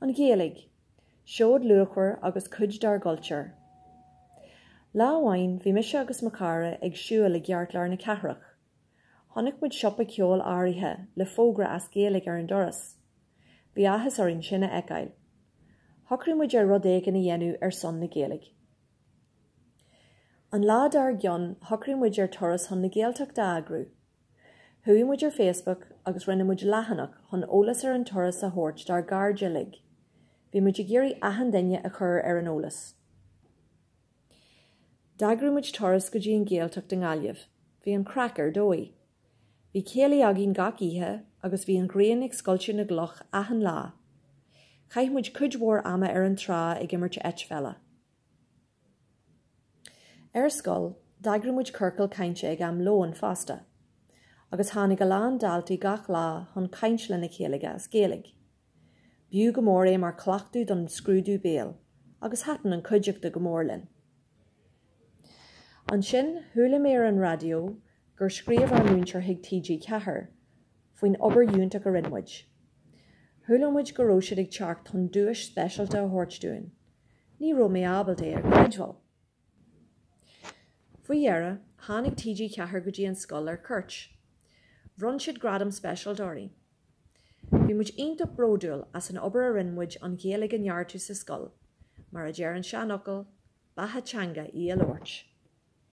An Ghaeilge, seoid luachmhar agus cuid dár gcultúr. Lá amháin bhí mise agus mo chara ag siúl i gceartlár na cathrach. Chonaic muid siopa ceoil áirithe le fógra as Gaeilge ar an doras. Bhí áthas orainn sin a fheiceáil. Shocraigh muid ar rud éigin a dhéanamh ar son na Gaeilge. An lá dár gcionn shocraigh muid ar turas chun na Gaeltachta a eagrú. Chuaigh muid ar Facebook agus rinne muid leathanach chun eolas ar an turas a thabhairt dár gcairde uilig. Bhí muid ag iarraidh achan duine a chur ar an eolas. D'eagraigh muid turas go dtí an Ghaeltacht i nGaillimh. Bhí an craic ar dóigh. Bhí céilí againn gach oíche agus bhí an ghrian ag scoilteadh na gcloch achan lá. Chaith muid cuid mhór ama ar an trá ag imirt eitpheile. Ar scoil, d'eagraigh muid ciorcal cainte ag am lóin fosta, agus tháinig a lán daltaí gach lá chun caint lena chéile as Gaeilge. B'fhiú go mór é mar chleachtadh don scrúdú béil, agus thaitin an cuideachta go mór linn. Ansin, chuala mé ar an raidió gur scríobh ár múinteoir chuig TG4 faoin obair fhiúntach a rinne muid. Chuala muid go raibh siad ag teacht chun duais speisialta a thabhairt dúinn. Ní raibh mé ábalta é a chreidbheáil. Faoi dheireadh, tháinig TG Ceathair go dtí an scoil ar cuairt. Bhronn siad gradam speisialta orainn. Bhí muid iontach bródúil as an obair a rinne muid an Ghaeilge a neartú sa scoil. Mar a deir an seanfhocal, Beatha teanga í a labhairt.